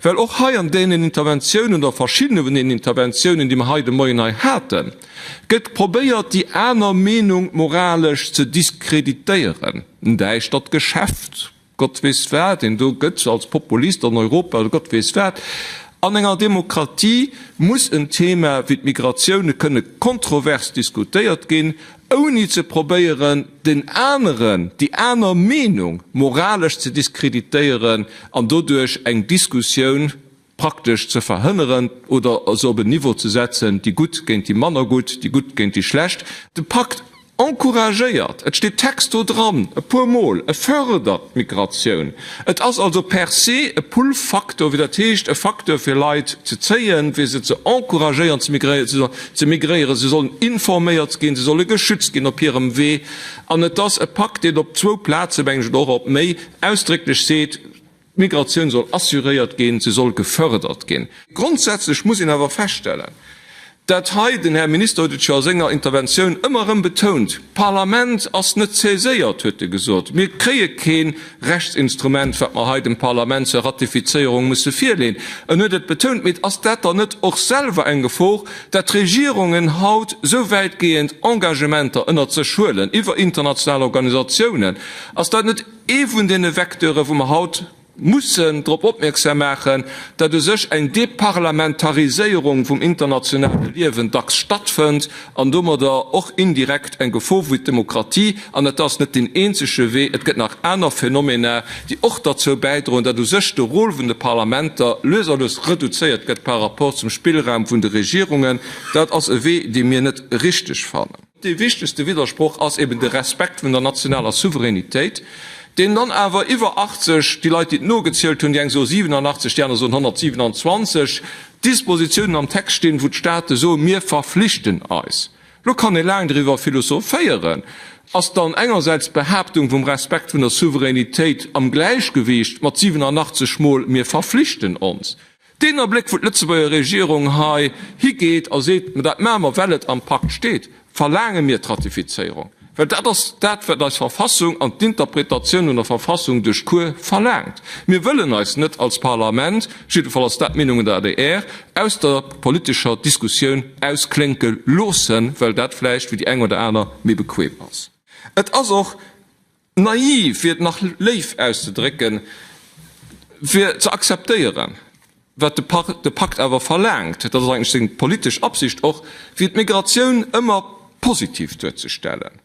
Well och hei an deenen Interventiounen oder verschiddene vun deenen Interventiounen, déi mer hei de Moien hei haten, gëtt probéiert, déi aner Meenung moralesch ze diskreditéieren. En däischtert Geschäft, Gott weess wat een do gëtt als Populist an Europa oder Gott weess wat. An enger Demokratie muss en Thema wéi d'Migratioune kënne kontrovers diskutéiert ginn, ouni ze probéieren den aneren, déi aner Meenung moralesch ze diskreditéieren an doduerch eng Diskussioun praktesch ze verhënneren oder se op en Niveau ze setzen, déi Gutt géint déi manner Gutt, déi Gutt géint déi Schlecht. De Pakt encouragéiert, et steet texto dran e puer Mol, e fördert d'Migratioun. Et ass also per se e Pull-Faktor, wéi dat heescht, e Faktor fir Leit ze zéien, fir se ze encouragéieren ze migréieren. Si sollen ze migréieren, si sollen informéiert ginn, si solle geschützt ginn op hirem Wee. An et ass e Pakt, deen op zwou Plazen, meng ech, oder och op méi, ausdrécklech seet, d'Migratioun soll assuréiert ginn, se soll gefërdert ginn. Grondsätzlech muss een awer feststellen, Dat hei, den Här Minister huet et scho a senger Interventioun ëmmer erëm betount, d'Parlament ass net saiséiert, huet e gesot. Mir kréie kee Rechtsinstrument, wat mer hei dem Parlament zur Ratifizéierung musse virleeën. En huet et betount. Mee ass dat dann net och selwer eng Gefor, dat d'Regierungen haut esou wäitgehend Engagementer ënnert sech huelen iwwer international Organisatiounen? Ass dat net ee vun deene Vecteure wou mer haut mussen drop opmierksam maachen, datt u sech eng Deparlamentariséierung vum internationale Liewen dacks stattfënnt an domadder och indirekt eng Gefor fir d'Demokratie. An et ass net deen eenzege Wee, et gëtt nach aner Phänomena, déi och derzou bäidroen, datt u sech de Rôle vun de Parlamenter lues a lues reduzéiert gëtt par rapport zum Spillraum vun de Regierungen. Dat ass e Wee, dee mir net richteg fannen. Dee wichtegste Widdersproch ass eben de Respekt vun der nationaler Souveränitéit, deen dann awer iwwer 80, déi Leit, déi et nogezielt hunn, déi eng soe 87, déi aner soen 127, Dispositiounen am Text stinn, wou d'Staate soen, mir verflichten eis. Lo kann ee laang driwwer philosophéieren, Ass dann engersäits d'Behaaptung vum Respekt vun der Souveränitéit am Gläichgewicht mat 87 mol, mir verflichten ons? Deen Abléck, wou d'Lëtzebuerger Regierung hei higeet a seet, Mä dat maache mer, well et am Pakt steet, verlaange mir d'Ratifizéierung, well dat ass dat, wat eis Verfassung an d'Interpretatioun un der Verfassung duerch d'Cour verlaangt. Mir wëllen eis net als Parlament, jiddefall ass dat d'Meenung un der adr, aus der politescher Diskussioun ausklénke loossen, well dat vläicht fir déi eng oder aner méi bequem ass. Et ass och Naiv, fir et nach léif auszedrécken, fir ze akzeptéieren, wat de Pakt awer verlaangt, dat ass eigentlech seng politesch Absicht och, fir d'Migratioun ëmmer positiv duerzestellen.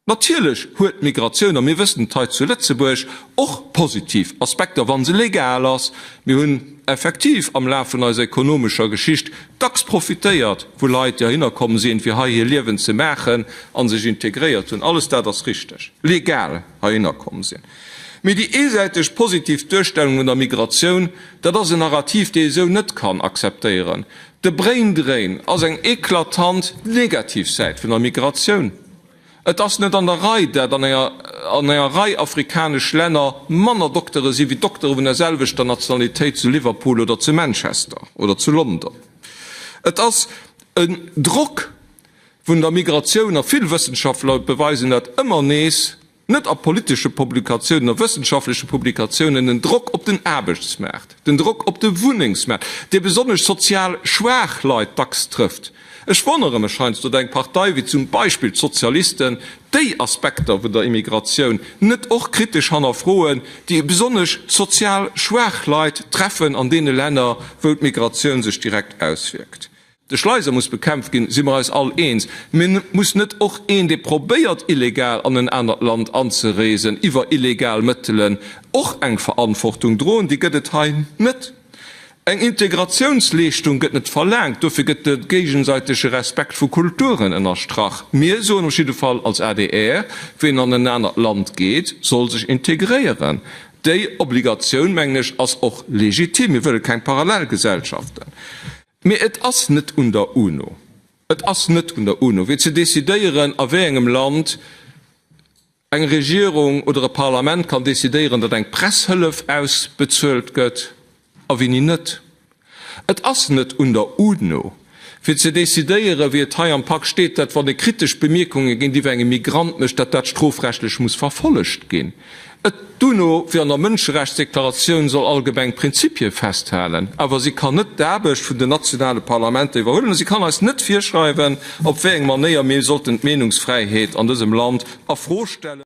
Natierlech huet d'Migratioun, a mir wëssen et hei zu Lëtzebuerg, och positiv Aspekter, wa se legal ass. Mir hunn. effektiv am Laf vun eiser ekonomescher Geschicht dacks profitéiert, wou Leit déi heihinner komm sinn, fir hei hir Liewen ze maachen an sech integréiert hunn, alles dat ass richteg, legal heihinner komm sinn. Mee déi eesäiteg positiv Duerstellung vun der Migratioun, dat ass en Narrativ, dee ee sou net kann akzeptéieren. De Braindrain ass eng eklatant negativ Säit vun der Migratioun. Et ass net an der Rei, dat an enger an enger Rei afrikanesch Länner manner Doktere si wéi Doktere vun der selwechter Nationalitéit zu Liverpool oder zu Manchester oder zu London. Et ass en Drock vun der Migratioun, a vill Wëssenschaftler beweisen dat ëmmer nees, net a politesche Publikatiounen, a wëssenschaftleche Publikatiounen, den Drock op den Aarbechtsmaart, den Drock op de Wunnengsmaart, dee besonnesch sozial schwaach Leit dacks trëfft. Ech wonnere mech heiansdo, datt eng Partei wéi zum Beispill d'Sozialisten déi Aspekter vun der Immigratioun net och kritesch hannerfroen, déi besonnesch sozial schwaach Leit treffen an deene Länner, wou d'Migratioun sech direkt auswierkt. De Schleiser muss bekämpft ginn, si mer eis all eens. Mee muss net och een, dee probéiert illegal an en anert Land anzereesen iwwer illegal Mëttelen, och eng Verantwortung droen? Déi gëtt et hei net. Eng Integratiounsleeschtung gëtt net verlaangt, dofir gëtt de géigesäitege Respekt vu Kulturen ënnerstrach. Mir soen op jidde Fall als adr, ween an en anert Land geet, soll sech integréieren. Déi Obligatioun, mengen ech, ass och legitim. Mir wëlle keng Parallelgesellschaften. Mee et ass net un der UNO, et ass net un der UNO, wee ze decidéieren, a wéi engem Land, Eng Regierung oder e Parlament kann decidéieren, datt eng Presshëllef ausbezuelt gëtt a wéini net. Et ass net un der UNO, fir ze decidéieren, wéi et hei am Pak steet, datt wann ee kritesch Bemierkunge géintiwwer engem Migrant mécht, datt dat strofrechtlech muss verfollegt ginn. Et. D'UNO, wéi an der Mënscherechtsdeklaratioun, soll allgemeng Prinzipie festhalen, awer si kann net d'Aarbecht vun den nationale Parlamenter iwwerhuelen a si kann eis net virschreiwen, op wéi eng Manéier mir sollten d'Meenungsfräiheet an dësem Land a Fro stellen.